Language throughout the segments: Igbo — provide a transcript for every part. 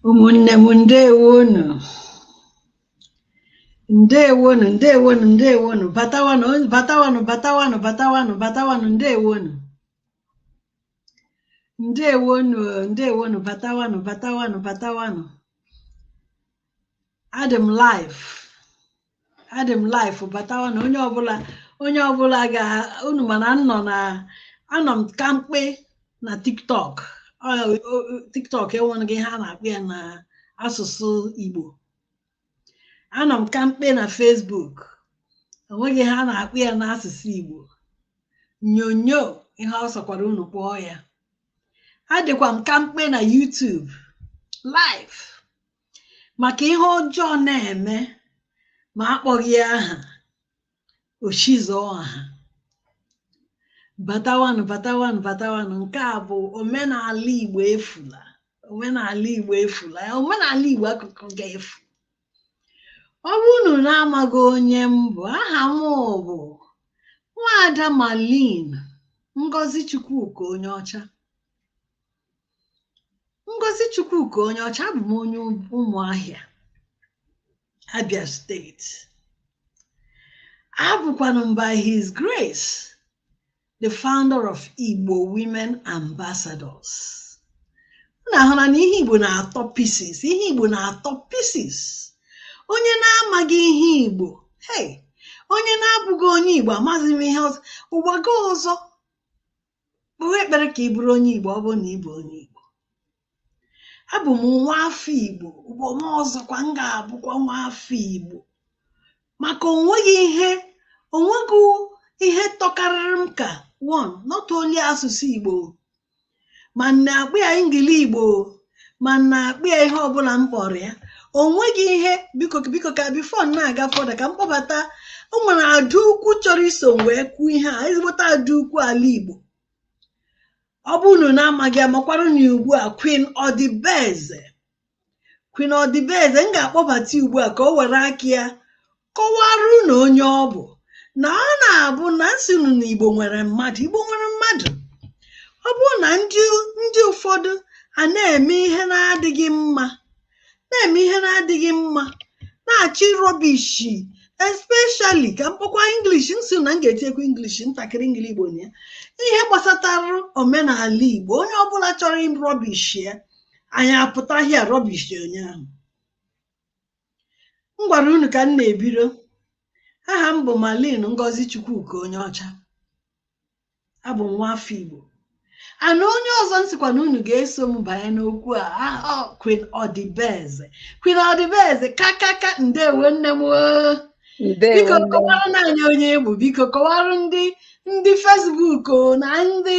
ụmụnne m ndewonu ndewonu ndewonu ndewonu batawanụ batawanụ batawanụ batawanụ batawanụ ndewonu ndewonu ndewonu batawanụ batawanụ batawanụ adị m live adị m live batawanụ onye ọbụla onye ọbụla ka unu mara nnọọ na anọ m kamkpe na tiktok tiktok enweghị ihe a na-akpọ ya na asụsụ igbo anọ m kamkpe na Facebook enweghị ihe a na-akpọ ya na asụsụ igbo nyonyo ihe ọ sọkwara unu kpọọ ya adịkwa m kamkpe na YouTube live maka ihe ọjọọ na-eme ma akpọghị ya aha o chizọọ aha batawanụ batawanụ batawanụ nke a bụ omenala igbo efula omenala igbo efula omenala igbo akụkọ ga-efu ọ bụ unu na-amaghị onye m bụ aha m bụ nwaada Marlene ngozi chukwuka Onyeocha Ngozi Chukwuka Onyeocha abụ m onye Ụmụahịa Abia steeti abụkwanụ m by his grace the founder of Igbo Women Ambassadors na-ahụ na ihe Igbo na-atọ pieces ihe Igbo na-atọ pieces onye na-amaghị ihe Igbo hey onye na-abụghị onye Igbo amaghị m ihe ọzọ ụwa gị ọzọ kpewe ekpere ka ị bụrụ onye Igbo ọ bụrụ na ị bụ onye Igbo abụ m nwa afọ Igbo ụwa m ọzọkwa m ga-abụkwa nwa afọ Igbo maka onweghị ihe onweghị ihe tọkarịrị m ka one not only asụsụ Igbo ma na-akpọ ya engili Igbo ma na-akpọ ya ihe ọbụla m kpọrọ ya o nweghị ihe biko biko ka before na-aga further ka m kpọbata o nwere ada ukwu chọrọ iso m wee kwuo ihe a ezigbote ada ukwu ala Igbo ọ bụ unu na-amaghị ya makwaranụ ugbu a Queen Odibeze Queen Odibeze m ga-akpọbata ya ugbu a ka o were aka ya kọwara unu onye ọ bụ na ọ na-abụ na m sị unu na igbo nwere mmadụ igbo nwere mmadụ ọ bụrụ na ndị ndị ụfọdụ a na-eme ihe na-adịghị mma na-eme ihe na-adịghị mma na-achọ ị rubbish especially ka m kpọkwa English m sị na m ga-etinyekwa English ntakịrị engili igbo na ya ihe gbasatara omenala igbo onye ọbụla chọrọ rubbish ya anyị apụta here rubbish onye ahụ m gwara unu ka m na-ebiro aha m bụ Malin Ngozi Chukwuka onye ọcha abụ m nwa afọ Igbo and onye ọzọ m sịkwa na unu ga-eso m banye n'okwu a aha Queen Ọdịbeze Queen Ọdịbeze kakaka ndewo nne m oo. biko kọwara nụ anyị onye ị bụ biko kọwara ndị ndị Facebook o na ndị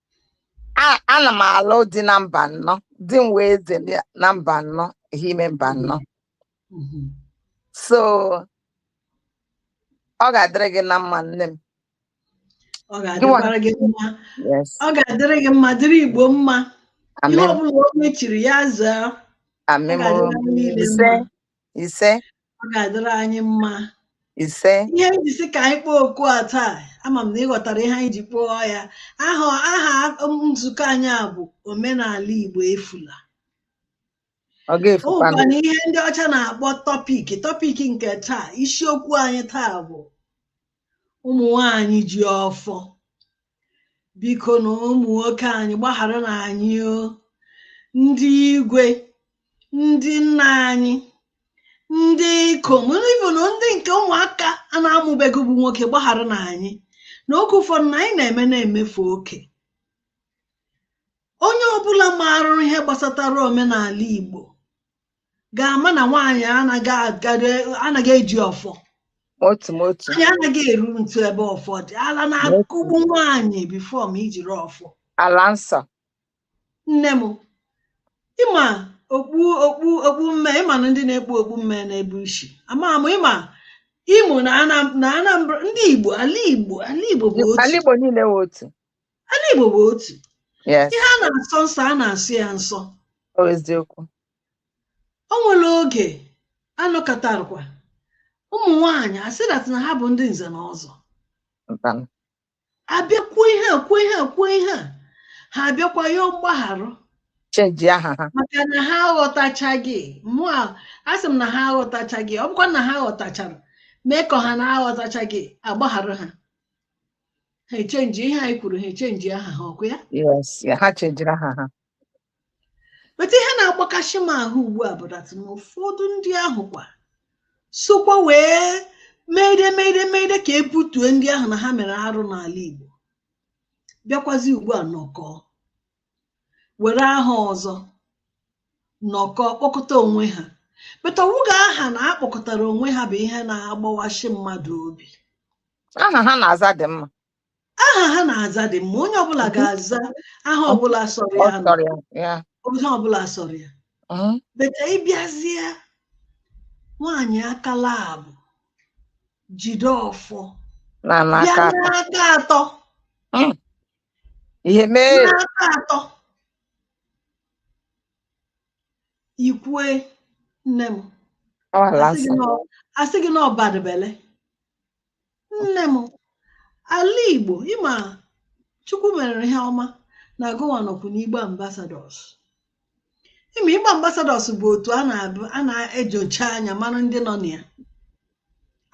ana m alụ di na Mbanọ di m wụ eze na Mbanọ Ehime Mbanọ mm-hmm. so ọ ga-adịrị gị na mma nne m ọ ga-adịkwara gị mma ọ ga-adịrị gị mma dịrị igbo mma ihe ọbụla onye chiri ya zaa ise ọ ga-adịrị anyị mma ise ihe anyị ji sị ka anyị kpọọ oku a taa ama m na ị ghọtara ihe anyị ji kpọọ ya aha aha nzukọ anyị a bụ omenala igbo efula ọ o ga-efukwa nwekwa na ihe ndị ọcha na-akpọ topic topic nke taa isiokwu anyị taa bụ ụmụ nwanyị ji ọfọ bikonụ ụmụ nwoke anyị gbagharanụ anyị o ndị igwe ndị nna anyị ndị ikom ibu na ndị nke ụmụaka a na-amụbeghị bụ nwoke gbagharanụ anyị na oge ụfọdụ na anyị na-eme na-emefe oke onye ọbụla maara ihe gbasatara omenala Igbo ga-ama na nwaanyị anaghị agado anaghị eji ọfọ otu m otu nwaanyị anaghị eru ntu ebe ọfọ dị ala na-akụgbu nwaanyị before ma ijiri ọfọ ala nsọ nne m ị ma okpu okpu okpu mme ị ma na ndị na-ekpu okpu mme n'ebe i si ama m ị ma Imo na Anam- na anambra ndị igbo ala igbo ala igbo bụ ala otu igbo niile wụ otu ala igbo bụ otu yes ihe a na-asọ nsọ a na-asọ ya nsọ ọ eziokwu o nwere oge a nọkatarakwa ụmụ nwaanyị asị that na ha bụ ndị nze na ọzọ Mbanụ. a bịa kwuo ihe a kwuo ihe a kwuo ihe a ha abịakwa yọọ mgbaghara Chenji aha ha. maka na ha aghọtachaghị mụ a asị m na ha aghọtachaghị ọ bụkwa na ha ghọtachara mee ka ha na aghọtachaghị a gbaghara ha ha echenji ihe anyị kwuru ha echenji aha ha ọ kwa ya Yes, ya ha chenjiri aha ha. but ihe na-agbakasị m ahụ ugbu a bụ that na ụfọdụ ndị ahụ kwa sokwa wee meide meide meide ka e butue ndị ahụ na ha mere arụ n'ala Igbo bịakwazi ugbu a nọkọọ were aha ọzọ nọkọọ kpọkọta onwe ha but ọ wụghị aha na ha kpọkọtara onwe ha bụ ihe na-agbawashi mmadụ obi aha ha na-aza dị mma aha ha na-aza dị mma onye ọbụla ga-aza aha ọbụla sọrọ ya onye ọbụla sọrọ ya Mhm. but ịbịazie nwaanyị akala abụ jide ọfọ bịa n'aka atọ ihe mee n'aka atọ ikwue nne m asị gị na ọ bad belle nne m ala igbo ị ma Chukwu mere ihe ọma na Agụnwa nọkwu n'Igbo Ambassadors ị ma Igbo Ambassadors bụ otu a na-enyocha anya mara ndị nọ na ya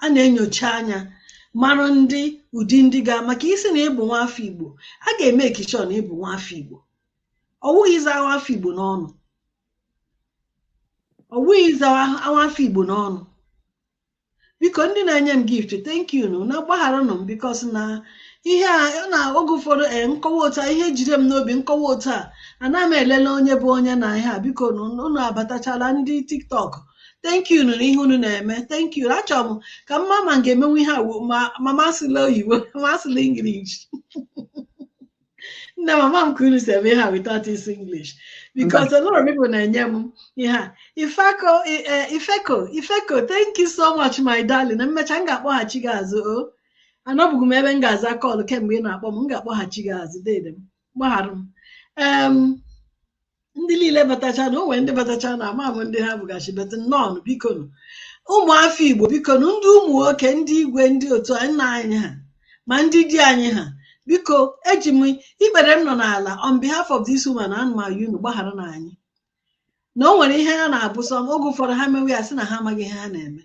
a na-enyocha anya mara ndị ụdị ndị ga maka isi na ị bụ nwa afọ igbo a ga-emake sure na ị bụ nwa afọ igbo ọ wụghị ịza nwa afọ igbo n'ọnụ ọ wụghị ịza nwa afọ igbo n'ọnụ biko ndị na-enye m gift thank you nụ na gbagharanụ m because na ihe a ọ na oge ụfọdụ ee m kọwa otu a ihe jide m n'obi m kọwa otu a anaghị m elele onye bụ onye na ihe a bikonụ unu abatachala ndị tiktok thank you na ihe unu na-eme thank you achọrọ m ka m ma ma m ga-emenwu ihe a wo- ma ma m asụla oyibo ma m asụla English nne m ama m ka unu si eme ihe a without this English because a lot of people na-enye m ihe a ifeko i- eh, ifeko ifeko thank you so much my darling na m mecha m ga-akpọghachi gị azụ o anọbụghị m ebe m ga-aza call kemgbe ị na-akpọ m m ga-akpọghachi gị azụ dede m gbaghara m Em, ndị niile batacha na o nwe ndị batacha na ama m ndị ha bụgachi but nnọọ biko nụ ụmụafọ igbo biko nụ ndị ụmụ nwoke ndị igwe ndị otu nna anyị ha ma ndị di anyị ha biko eji m ikpere m nọ n'ala on behalf of this woman ana m ayọ unu gbagharanụ anyị na o nwere ihe ha na-abụ sọ oge ụfọdụ ha mewe ya sị na ha amaghị ihe ha na-eme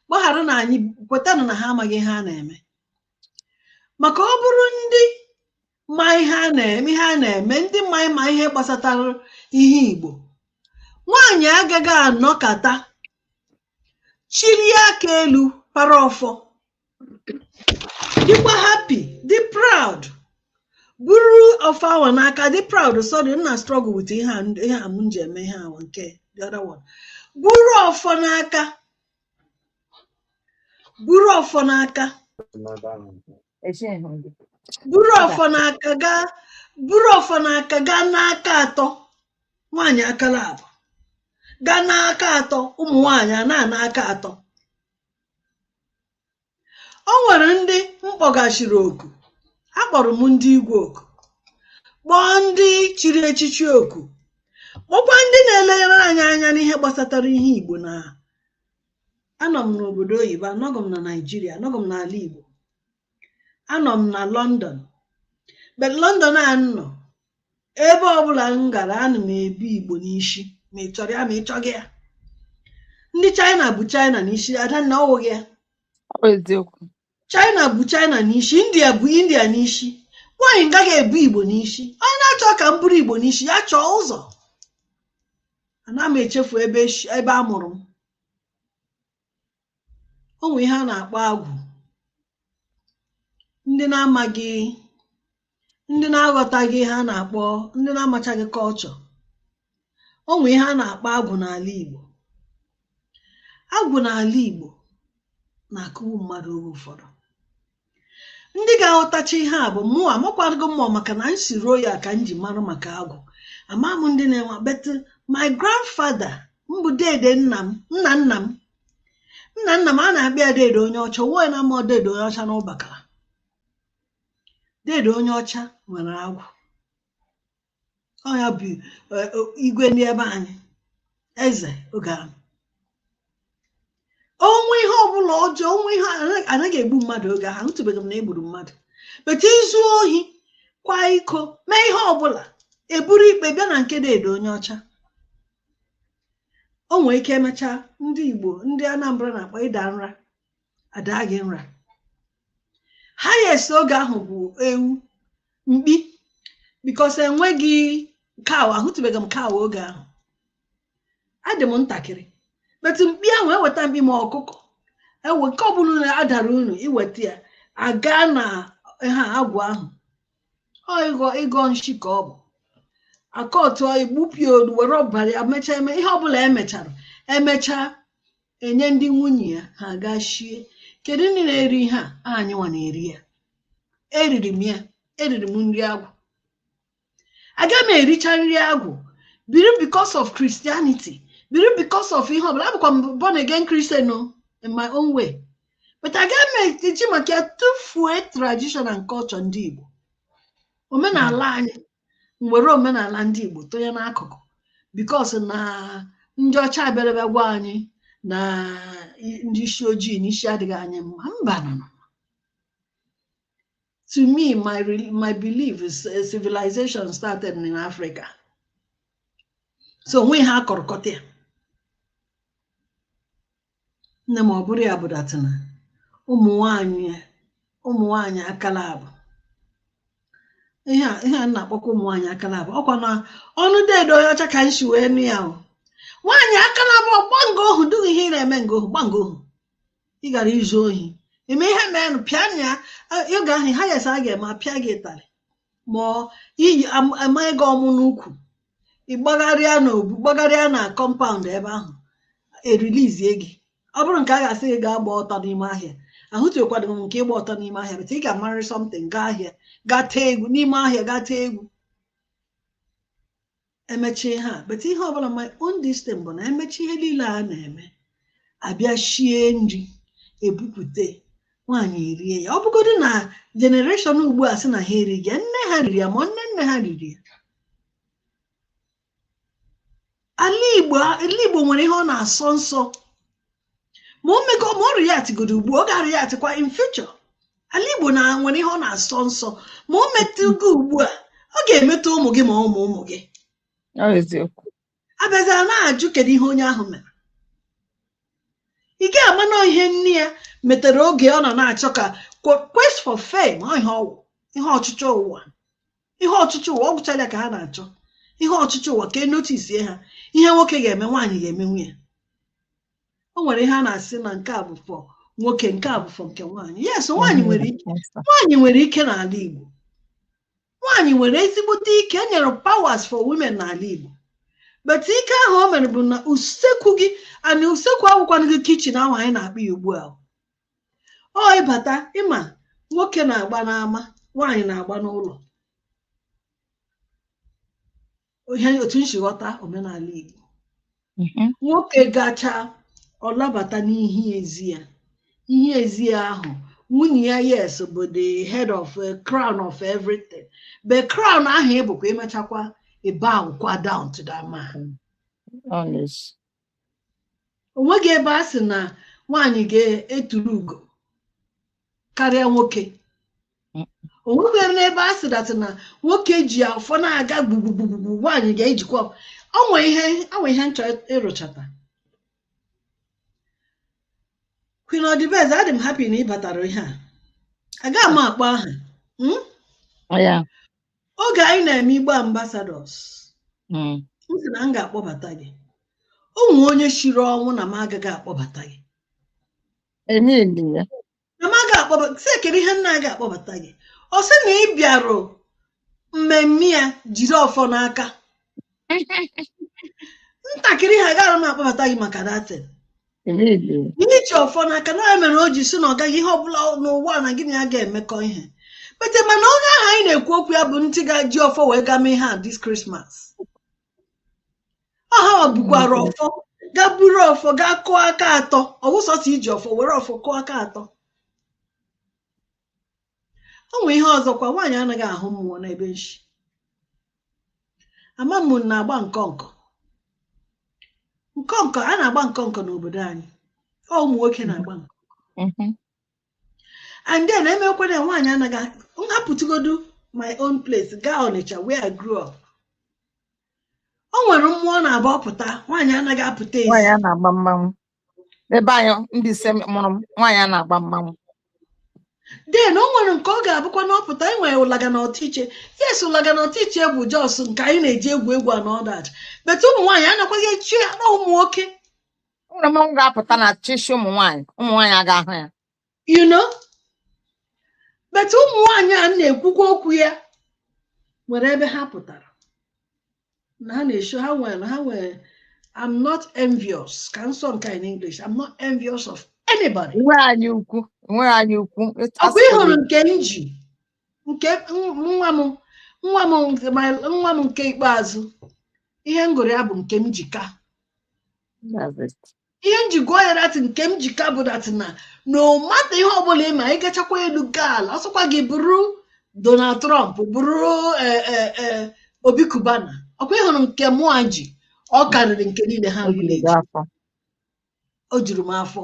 gbagharanụ anyị kwetanụ na ha amaghị ihe ha na-eme maka ọ bụrụ ndị ma ihe a na-eme ndị ma ma ihe gbasatara ihe Igbo nwaanyị agaghị anọkata chilie aka elu para ọfọ dịkwa happy dị proud buru ọfọ ahụ n'aka dị proud sorry m na-struggle with ihe a ihe a m ji eme ihe ahụ nke the other one buru ọfọ n'aka buru ọfọ n'aka buru ọfọ na aka gaa buru ọfọ na aka gaa n'aka atọ nwaanyị akala abụ gaa n'aka atọ ụmụ nwaanyị a na-ana aka atọ o nwere ndị m kpọgachiri oku akpọrọ m ndị igwe oku kpọọ ndị chiri echichi oku kpọkwa ndị na-elegara anyị anya n'ihe gbasatara ihe igbo na anọ m n'obodo oyibo anọghị m na naijiria anọghị m n'ala igbo anọ m na london but london a m nọ ebe ọbụla m gara ana m ebu igbo n'isi ma ị chọrọ ya ma ị chọghị ya ndị china bu china n'isi adanna ọwụghị ya ọ bụ eziokwu china bu china n'isi india bu india n'isi why anyị agaghị ebu igbo n'isi onye na-achọ ka m buru igbo n'isi ya chọọ ụzọ ana m echefu ebe ebe a mụrụ m o nwee ihe a na-akpọ agwụ ndị na-amaghị ndị na-aghọtaghị ihe a na-akpọ ndị na-amachaghị culture o nwee ihe a na-akpọ agwụ n'ala Igbo agwụ n'ala Igbo na-akụwu mmadụ oge ụfọdụ ndị ga-aghọtacha ihe a bụ mụ amakwago mmụọ maka na m si ruo ya ka m ji mara maka agwụ ama m ndị na-enwe but my grandfather m bụ dede nna m nna nna m nna nna m a na-akpọ ya dede onye ọcha nwa na ama dede onye ọcha na ụbakala dede onye ọcha nwere agwụ ọ ya bụ eh, o- igwe ndị ebe anyị eze oge ahụ o nwee ihe ọbụla ọjọọ onwe ihe anaghị- anaghị egbu mmadụ oge ahụ anụtụbeghị m na egburu mmadụ but i zuo ohi kwaa iko mee ihe ọbụla e buru ikpe bịa na nke dede onye ọcha o nwere ike emechaa ndị igbo ndị anambra na-akpọ ịda nra a daa gị nra highest oge ahụ bụ ewu mkpi because enweghị cow ahụtụbeghị m cow oge ahụ adị m ntakịrị but mkpi ahụ eweta mkpi ma ọkụkọ ewu nke ọbụla unu adara unu i weta ya a gaa n'ihu agwụ ahụ ọ ịgọ ịgọ nshi ka ọ bụ akọtụọ e gbupụ ya olu were ọbara ya mechaa eme ihe ọbụla emechara emechaa enye ndị nwunye ya ha gaa shie kedu ndị na-eri ihe a anyịnwa na-eri ya eriri m ya eriri m nri agwụ aga m ericha nri agwụ biri because of Christianity biri because of ihe ọbụla abụkwa m born again Christian o in my own way but aga m eji maka ya tụfuo tradition and culture ndị Igbo omenala anyị m were omenala ndị Igbo tụnye n'akụkụ because na ndị ọcha abịala ebe a gwa anyị na ndị isi ojii na isi adịghị anyị mma mba no to me my my belief is eh, civilization started in Africa so o nwe ihe a kọrọ kọta ya nne m ọ bụrụ ya bụ dat na ụmụ nwanyị ụmụ nwanyị akala abụ ihe a ihe a na-akpọkwa ụmụ nwanyị akala abụ ọkwa n'ọnụ deede onye ọcha ka m shi wee nụ ya o nwaanyị akala abụ ọgba nga ohu dịghị ihe ị na-eme nga ohu gba nga ohu ị gara izu ohi eme ihe meenụ pịa na ya oge ahụ ha yesa a ga-eme apịa gị ịtarị ma ọ iyi am- ama gị ọmụ n'ukwu ị gbagharịa n'obu gbagharịa na kọmpaụnd ebe ahụ erilizie gị ọ bụrụ nke a ga-asị gị gaa gba ọtọ n'ime ahịa ahụtụkwadị m nke ịgba ọtọ n'ime ahịa but ị ga-amarị something gaa ahịa gaa tee egwu n'ime ahịa gaa tee egwu emechie ha but ihe ọbụla my own this thing bụ na emecha ihe niile a na-eme abịa shie nri ebupụte nwaanyị erie ya ọ bụgodị na jenereshọn ugbu a sị na ha erighị ya nne ha riri ya ma nne nne ha riri ya ala igbo ala igbo nwere ihe ọ na-asọ nsọ ma o me ma ọ react godo ugbu a ọ ga-areactịkwa in future ala igbo na nwere ihe ọ na-asọ nsọ ma o metụghị ugbu a ọ ga-emetụ ụmụ gị ma ụmụ ụmụ gị abịazịa na-ajụ kedu ihe onye ahụ mere ị gaghị ama na ihe nne ya metere oge ọ nọ na-achọ ka qu- quest for fame ọ ihe ọwụ ihe ọchịchọ ụwa ihe ọchịchọ ụwa ọ gwụchala ya ka ha na-achọ ihe ọchịchọ ụwa ka enotisie ha ihe nwoke ga-eme nwaanyị ga-emenwu ya o nwere ihe a na-asị na nke a bụ for nwoke nke a bụ for nke nwaanyị yes nwaanyị nwere ike nwaanyị nwere ike n'ala Igbo nwaanyị nwere ezigbote ike e nyere powers for women n'ala Igbo but ike ahụ o nwere bụ na usekwu gị and usekwu awụkwanụghị kichin ahụ anyị na-akpọ ya ugbu a ọ ịbata ịma nwoke na-agba n'ama nwaanyị na-agba n'ụlọ ihe otu m si ghọta omenala Igbo Mhm. nwoke gacha ọ labata n'ihu ezi ya ihu ezi ya ahụ nwunye ya yes bụ the head of uh, crown of everything but crown ahụ ịbụkwa ịmechakwa ị bow kwa down to that man Honest. onweghị ebe a sị na nwaanyị ga-eturu ugo karịa nwoke onweghị n'ebe a sị dat na nwoke ji ọfọ na-aga gbugbugbugbu nwaanyị ga-ejikwa onwe ihe onwe ihe m chọ ịrụchata Queen Odibeze adị m happy na ị batara ihe a agaghị m akpọ aha hmm? oge anyị na-eme igbo ambassadors mm. m sị na m ga-akpọbata gị o nwe onye shiri ọnwụ na m agaghị akpọbata gị na m agaghị akpọbata sị kere ihe m na-agaghị akpọbata gị ọ sị na ị bịarụ mmemme ya jiri ọfọ n'aka ntakịrị ihe gara m akpọbata gị maka dat iji ọfọ n'aka na ya mere o ji sị na ọ gaghị ihe ọbụla n'ụwa na gị na ya ga-emekọ ihe but mana onye ahụ anyị na-ekwu okwu ya bụ ntị ga-eji ọfọ wee gaa mee ihe a this Christmas ọha bukwara ọfọ gaa buru ọfọ gaa kụọ aka atọ ọ wụ sọsọ iji ọfọ were ọfọ kụọ aka atọ o nwee ihe ọzọkwa nwaanyị anaghị ahụ mmụọ n'ebe m shi ama m na-agba nkọnkọ nkọnkọ a na-agba nkọnkọ n'obodo anyị ọ ụmụ nwoke na-agba nkọ Mhm. and then e meekwa nwaanyị anaghị m hapụtụgodu my own place gaa Ọnịcha where I grew up o nwere mmụọ na-abụ ọ pụta nwaanyị anaghị apụta ezi nwaanyị a na-agba mmanwụ ebe anyị ndị ise mụrụ m nwaanyị a na-agba mmanwụ then o nwere nke ọ ga-abụkwa na ọ pụta e nwere ụlaga na ọtụiche yes ụlaga na ọtụiche bụ just nke anyị na-eji egwu egwu and all that but ụmụ nwaanyị anakwaghị echi ya na ụmụ nwoke o nwere mmanwụ ga-apụta n'uchichi ụmụ nwaanyị ụmụ nwaanyị aga ahụ ya you know but ụmụ nwanyị a na-ekwukwa okwu ya nwere ebe ha pụtara na ha na-esho ha nwere ha nwere I'm not envious ka m sụọ nke in English I'm not envious of anybody inwe anya ukwu inwe anya ukwu ọkwa ị hụrụ nke m ji nke nwa m nwa m nwa m nke ikpeazụ ihe m gụrụ ya bụ Nkemjika ihe m ji gụọ ya that Nkemjika bụ that na no matter ihe ọbụla ịma anyị gachakwa elu gaa ala ọ sọkwa gị bụrụ Donald Trump bụrụ e, e, e, Obi Cubana ọkwa ị hụrụ nke mụa ji ọ karịrị nke niile ha o juru m afọ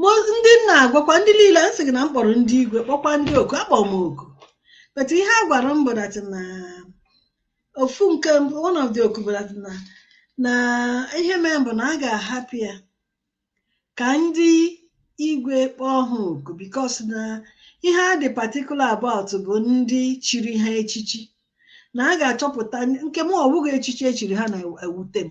ma ndị na-agwakwa ndị niile a sị gị na m kpọrọ ndị igwe kpọkwa ndị oku akpọ m oku but ihe a gwara m bụ that na ofu nke mbụ one of the oku bụ that na na ihe mere bụ na a ga-ahapụ ya ka ndị igwe kpọọ ha oku because na ihe a dị particular about bụ ndị chiri ha echichi na a ga-achọpụta nke m ọ bụghị echichi e chiri ha na-ewute m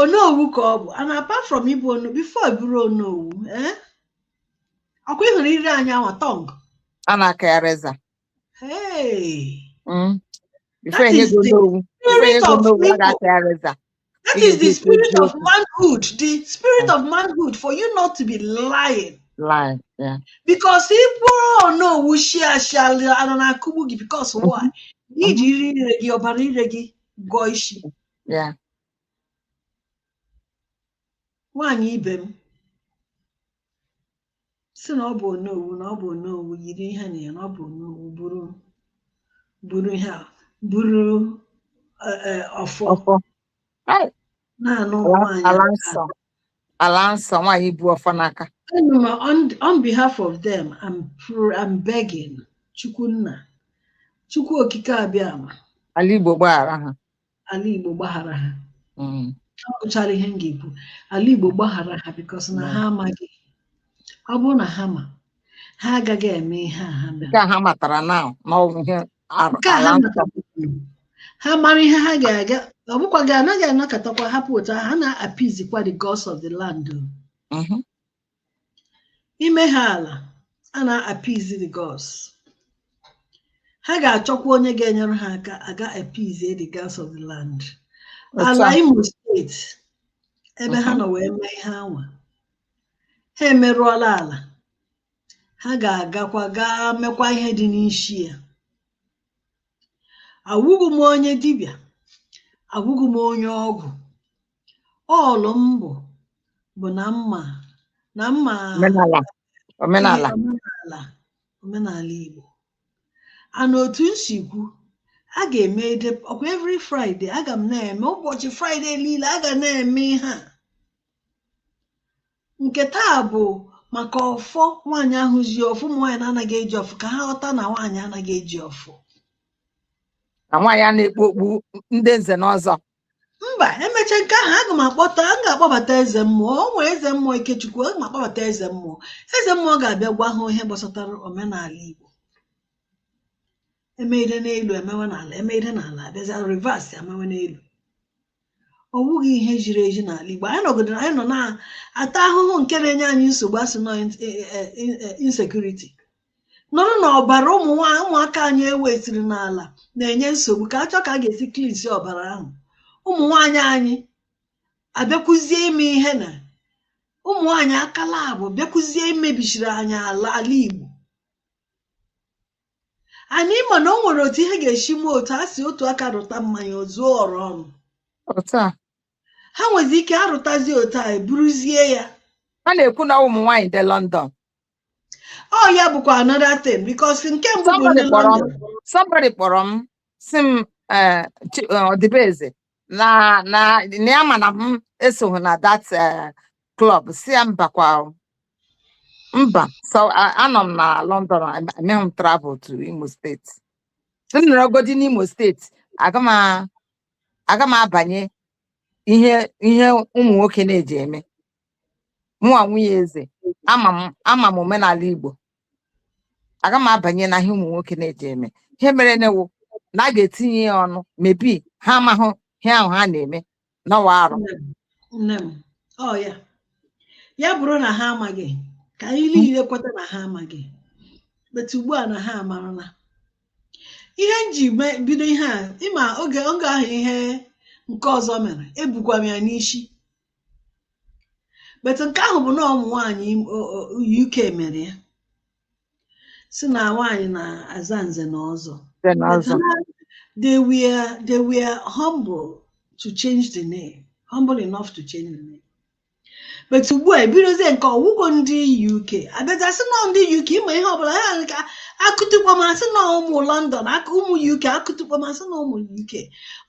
onowu ka ọ bụ and apart from ịbụ onowu before ị bụrụ onowu eh? ọkwa ị hụrụ ire anyị ahụ tongue a na-aka ya razor hey Mm. Before That enye is gị the onowu before enye spirit gị of onowu a people ga-aka ya razor that Ị is the ga-eji spirit eziokwu. of manhood the spirit of manhood for you not to be lying lying yeah. because ị bụrụ onowu shịa ashị ana na-akụgbu gị because why i ji ire ire gị ọbara ire gị gụọ isi Yeah. nwaanyị ibe m sị na ọ bụ onowu na ọ bụ onowu yiri ihe na ya na ọ bụ onowu buru buru ihe a buru eh, eh, ọfọ Ọfọ. Ai, na-anụ Ala nwaanyị ala aka. nsọ. Ala nsọ nwaanyị bu ọfọ n'aka. Enu m, on, on behalf of them I'm, pr- I'm begging Chukwu Nna Chukwu okike Abịama Ala Igbo gbaghara ha. ala Igbo gbaghara ha mm. ọ bụchara ihe m ga-ekwu ala Igbo gbaghara ha because na ha amaghị ọ bụrụ na ha ma ha agaghị eme ihe a ha mere ha matara na ha mara ihe ha ga-aga ọ bụkwa gị anaghị anọkatakwa ha pụta ha na-appeasekwa the gods of the land mm-hmm. imeha ala a na-appease the gods ha ga-achọkwa onye ga-enyere ha aka aga appease the gods of the land ala Imo steeti ebe ha nọ wee mee ihe anwa ha emerụọla ala ha ga-agakwa gaa mekwa ihe dị n'isi ya awụghị m onye dibịa awụghị m onye ọgwụ ọlụ m bụ bụ na mma na mma omenala omenala omenala omenala Igbo a na otu m si kwu a ga-eme ede ọkwa every Friday aga m na-eme ụbọchị Friday niile a ga na-eme ihe a nke taa bụ maka ọfọ nwaanyị ahụ ji ọfọ ụmụ nwaanyị na-anaghị eji ọfọ ka ha ghọta na nwaanyị anaghị eji ọfọ na nwaanyị a na-ekpu okpu ndị nze na ọzọ mba emecha nke ahụ aga m akpọta m ga-akpọbata eze mmụọ o nwere eze mmụọ Ikechukwu aga m akpọbata eze mmụọ eze mmụọ ga-abịa gwa ha ihe gbasatara omenala igbo emeide n'elu emewe n'ala emeide n'ala abịazi reverse emewe n'elu ọ bụghị ihe ziri ezi n'ala igbo anyị nọgidere anyị nọ na-ata ahụhụ nke na-enye anyị nsogbu a sị na ọ insecurity nụrụ na ọbara ụmụ nwa- ụmụaka anyị e wusiri n'ala na-enye nsogbu ka a chọọ ka a ga-esi cleanse ọbara ahụ ụmụ nwaanyị anyị abịakwuzie ime ihe na ụmụ nwaanyị akala abụ bịakwuzie imebichiri anyị ala ala igbo anyị mana o nwere otu ihe ga-esi mee otu a sị otu aka rụta mmanụ o zuo ọra ọnụ otu a ha nwezi ike arụtazi otu a eburuzie ya a na-ekwu na ụmụ nwaanyị dị London Ọ ya bụkwa another thing because nke mbụ bụ ndị London. Somebody kpọrọ m si m eh, eh, ọdịbeze na na na ya ma na m esoghị na that eh, club si ya mbakwa mba so anọ m na London emeghị m travel to Imo steeti m nọrọgodi n'Imo steeti aga m abanye ihe ihe ụmụ nwoke na-eji eme mụnwa nwunye eze ama m omenala Igbo aga m abanye na ihe ụmụ nwoke na-eji eme ihe mere newo na a ga-etinye ya ọnụ maybe ha amahụ ihe ahụ ha na-eme na ọ wụ arụ nne m ọ ya ya bụrụ na ha amaghị ka anyị niile kweta na ha amaghị but ugbu a na ha amarala ihe m ji bido ihe a ịma oge oge ahụ ihe nke ọzọ mere ebukwa m ya n'isi but nke ahụ bụ na ụmụ nwaanyị UK mere ya si na nwaanyị na-aza nze na ọzọ they were they were humble to change the name humble enough to change the name but ugbu a ebidozie nke a ọ wụkwa ndị UK abịaza sị nọ ndị UK ịma ihe ọbụla ha ka a kụtụ kpọm a sị na ụmụ London aka ụmụ UK a kụtụ kpọm a sị na ụmụ UK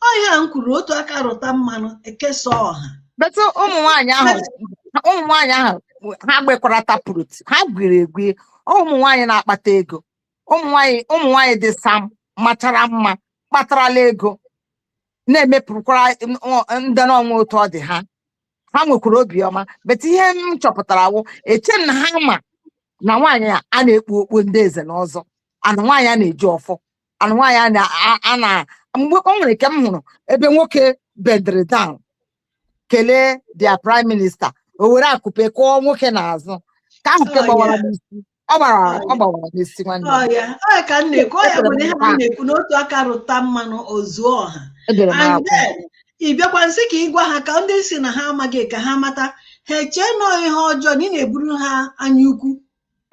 ọ ihe a m kwuru otu aka rụta mmanụ ekesa ọha But ụmụ nwaanyị ahụ ụmụ nwaanyị ahụ ha gbekwara taproot ha gwiri egwi ụmụ nwaanyị na-akpata ego ụmụ nwaanyị ụmụ nwaanyị dị sam machara mma kpatarala ego na-emepụkwara ndị n'ọnwa otu ọ dị ha ha nwekwara obiọma but ihe m chọpụtara wụ eche m na ha ma na nwaanyị a a na-ekpu okpu ndị nze na ọzọ and nwaanyị a na-eji ọfọ and nwaanyị a na- a- a na mgbe o nwere nke m hụrụ ebe nwoke bendịrị down kelee their prime minista o were akụpe kụọ nwoke n'azụ ka ahụ ke Oh, gbawara yeah. n'isi ọ gbara Oh, ọ yeah. gbawara n'isi nwanne m. ọ ya ọ ya ka m na-ekwu ọ ya Echere bụ m na ihe na- a na-ekwu na otu aka rụta mmanụ o zuo ọha edere m and akwụ then ị bịakwa nsị ka ị gwa ha ka ndị si na ha amaghị ka ha mata ha eche na ọ ihe ọjọọ na ị na-eburu ha anya ukwu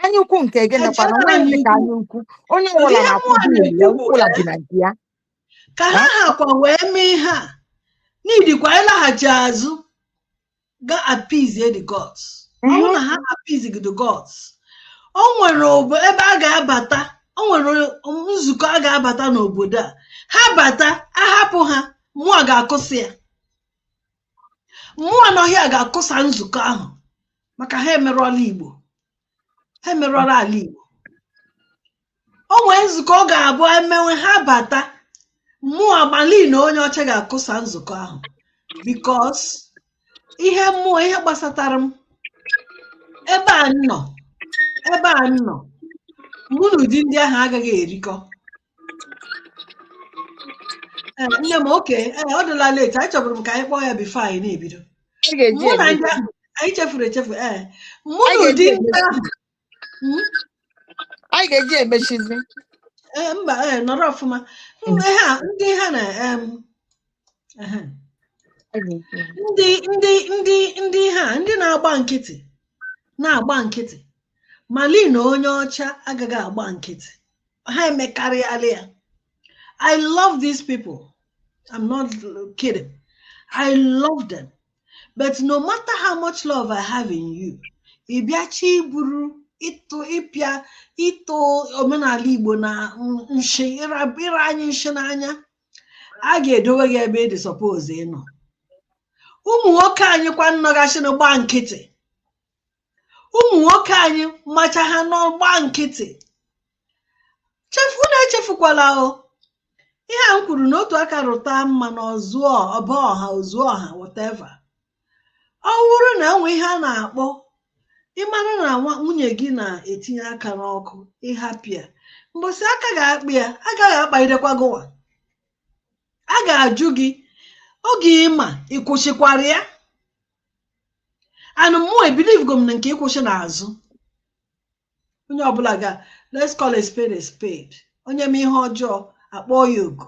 anya ukwu nke gịnịkwanụ nwaanyị ka anya ukwu onye ọbụla na-akwụ bill ya ọbụla bi na nke ya ka ha hakwa wee mee ihe a needikwa ịlaghachi azụ ga appease the gods ọ bụrụ na ha appease the gods o nwere obo ebe a ga-abata o nwere nzukọ a ga-abata n'obodo a ha bata ahapụ ha mmụọ ga-akụsị ya mụwa nọ here ga-akụsa nzukọ ahụ maka ha emerụọla igbo ha emerụọla ala igbo o nwee nzukọ ọ ga-abụ e mewe ha bata mụwa malina onye ọcha ga-akụsa nzukọ ahụ because ihe mụwa ihe gbasatara m ebe a nọ ebe a nọ mụ na ụdị ndị ahụ agaghị erikọ Eh, nne m okay eh, ọ dịla late anyị chọburu m ka anyị kpọọ ya before anyị na-ebido anyị chefuru echefu ee mụ na ụdị ndị ahụ Mm, Anyị ga-eji emechizi. eh, mba eh, nọrọ ọfụma Mm, eh, ha ndị ha na em, ehe. Anyị ga-eji. ndị ndị ndị ndị ha ndị na-agba nkịtị na-agba nkịtị malina onye ọcha agaghị agba nkịtị ha emekarịala ya i love these people i'm not kidding i love them but no matter how much love i have in you ị bịachi iburu ịtụ ịpịa ịtụ omenala igbo na nshi ịra anyị nshi n'anya a ga-edowe gị ebe ị dị suppose ịnọ ụmụ nwoke anyị kwa nọgachị na-agba nkịtị ụmụ nwoke anyị macha ha nọ gba nkịtị chefu na echefukwala o ihe a m kwuru na otu aka rụta mmanụ o zuo ọ bụ ọha o zuo ọha whatever ọ bụrụ na e nwee ihe a na-akpọ ịmara na nwunye gị na-etinye aka n'ọkụ ị hapụ ya mbọsị aka ga-akpụ ya agaghị akpagidekwa gịwa a ga-ajụ gị oge ị ma ị kwụsịkwara ya and mụ ebelieve go m na nke ịkwụsị n'azụ onye ọbụla ga let's call a spade a spade onye mee ihe ọjọọ a kpọọ ya oku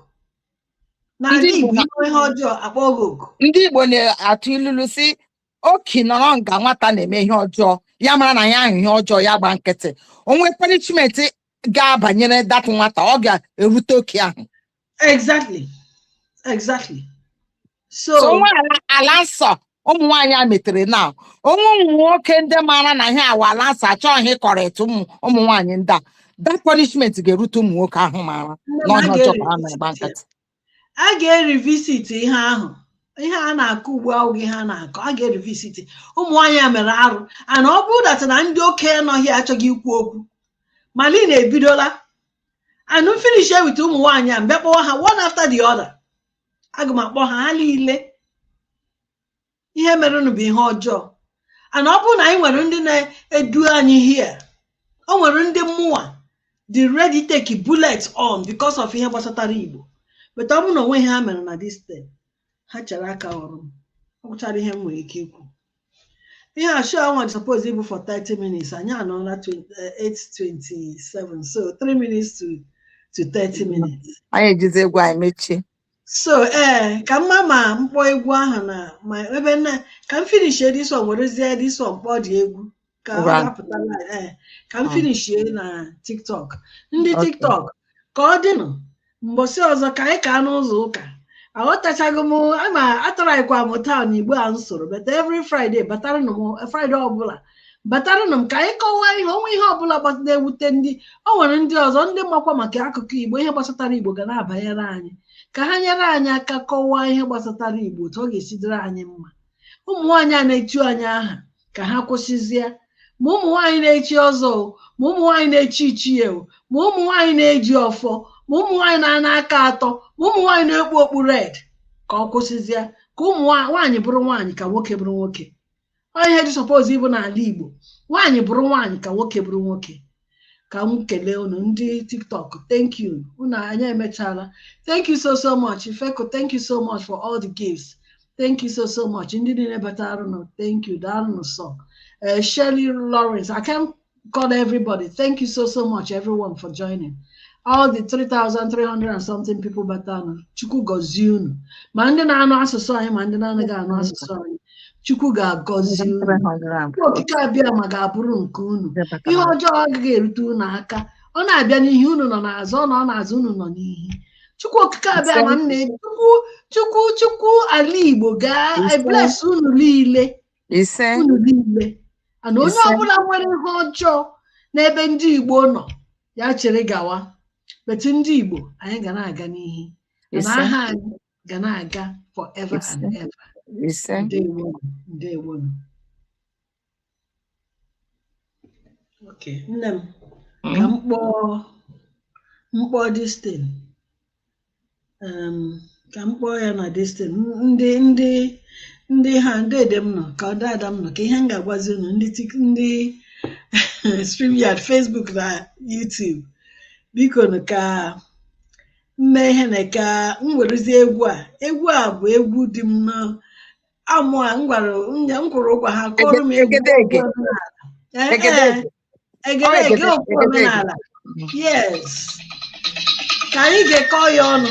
n'ala Igbo i mee ihe ọjọọ a kpọọ gị oku ndị igbo na-atụ ilulu sị okii nọrọ nga nwata na-eme ihe ọjọọ ya mara na ya ahụ ihe ọjọọ ya gba nkịtị o nwee punishment ga-abanyere that nwata ọ ga-erute okii ahụ exactly exactly so so o nwee ala ala nsọ ụmụ nwaanyị a metere na o nwee ụmụ nwoke ndị maara na ihe a wụ ala nsọ achọghị ịcorrect ụmụ ụmụ nwaanyị ndị a that punishment ga-erute ụmụ nwoke ahụ maara nne m, a na ọ ihe ọjọọ ka ha na-agba ga-erivisit nkịtị a ga-erivisit ihe ahụ ihe a na-akọ ugbu ahụ ihe a na-akọ a ga-erivisit ụmụ nwaanyị a mere arụ and ọ bụrụ that na ndị okenye nọghị achọghị ikwu okwu malina ebidola and m finish with ụmụ nwaanyị a m bịa kpọwa ha one after the other aga m akpọ ha ha niile ihe merenụ bụ ihe ọjọọ and ọ bụrụ na anyị nwere ndị na-edu anyị here o nwere ndị mụwa dị ready take bullet on because of ihe gbasatara igbo but ọ bụrụ na o nweghị ihe ha mere na this thing ha chere aka ọrụ m ọ gwụchara ihe m nwere ike ikwu ihe a show a nwa suppose ịbụ for 30 minutes anyị anọọla 20 eh, 8:27 so 3 minutes to to 30 minutes anyị ejizi egwu anyị mechie so ee ka m ma ma m kpọ egwu ahụ na ma ebe na ka m finish this one werezie this one kpọọ the egwu ka ọ Ngwa. ga-apụta live, eh, ka m Mm. finishie na tiktok ndị Okay. tiktok ka ọ dịnụ mbọsị ọzọ ka anyị kaa n'ụzọ ụka aghọtachaghị m ama ataraghịkwa m taa na igbo a m sụrụ but every friday bataranụ m friday ọbụla bataranụ m ka anyị kọwaa ihe o nwe ihe ọbụla gbas- na-ewute ndị o nwere ndị ọzọ ndị makwa maka akụkọ igbo ihe gbasatara igbo ga na-abanyere anyị ka ha nyere anyị aka kọwaa ihe gbasatara igbo otu ọ ga-esi dịrị anyị mma ụmụ nwaanyị a na-echu anyị aha ka ha kwụsịzie ma ụmụ nwaanyị na-echi ọzọ o ma ụmụ nwaanyị na-echi ichie o ma ụmụ nwaanyị na-eji ọfọ ma ụmụ nwaanyị na-ana aka atọ ma ụmụ nwaanyị na-ekpu okpu red ka ọ kwụsịzie ka ụmụ nwa- nwaanyị bụrụ nwaanyị ka nwoke bụrụ nwoke ọ ihe dị suppose ịbụ n'ala Igbo nwaanyị bụrụ nwaanyị ka nwoke bụrụ nwoke ka m kelee unu ndị tiktok thank you unu anyị emechala thank you so so much ifeko thank you so much for all the gifts thank you so so much ndị niile bataranụ thank you daalụnụ sọ eh, Shirley Lawrence I can't call everybody thank you so so much everyone for joining all the 3,300 and something people batara chukwu gọzie unu ma ndị na-anụ asụsụ anyị ma ndị na-anaghị anụ asụsụ anyị chukwu ga-agọzi unu Chukwu okike abịama ga-abụrụ nke unu ihe ọjọọ agaghị erute unu aka ọ na-abịa n'ihu unu nọ n'azụ ọ nọ n'azụ unu nọ n'ihu chukwu okike abịama na chukwu ala igbo ga Ise. bless unu niile ise unu niile and onye Ise. ọbụla nwere ihe ọjọọ n'ebe ndị igbo nọ ya chere gawa but ndị igbo anyị ga na-aga n'ihu na ise aha anyị ga na-aga forever and ever ndewonụ okay nne m mm. ka m kpọọ mkpọ distin ka m kpọọ ya na distin ndị ndị ndị ha deede m nọ ka o daada m nọ ka ihe m ga-agwazi unu ndị ndị StreamYard Facebook na YouTube biko ka m mee ihe na ka m werezi egwu a egwu a bụ egwu di m na mụa m kwụrụ ụgwọ ha kụọrọ m egwu Egedege. egwu omenala. Eh, eh, Egedege. egedege egede- egwu egedege. omenala yes ka anyị gekọọ ya ọnụ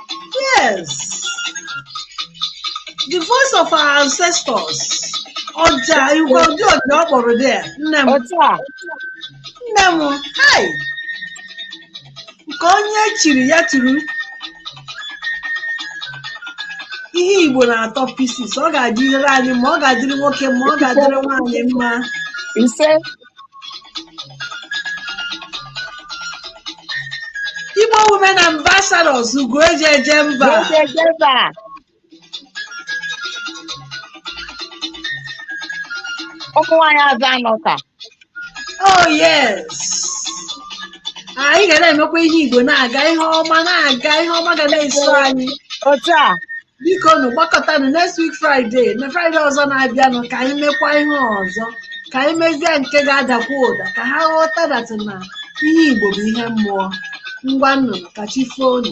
Yes. The voice of our ancestors. Ọja, Igbo ụdị ọja ọ kpọrọ there. Nne m, otu a nne m, hai. Nke onye chiri ya turu. Ihe Igbo na-atọ pieces. Ọ ga-adịrị anyị mma ọ ga-adịrị nwoke mma ọ ga-adịrị nwaanyị mma. ise Igbo women ambassadors ugo eji eje mba. ụmụ nwaanyị azụanụka oh yes anyị ga na-emekwa ihe igbo na-aga ihe ọma na-aga ihe ọma ga na-eso anyị otu a bikonụ gbakọtanụ next week Friday na Friday ọzọ na-abịanụ ka anyị mekwa ihe ọzọ ka anyị mezie nke ga-adakwa ụda ka ha ghọta that na ihe Igbo bụ ihe mmụọ ngwanụ ka chi foonụ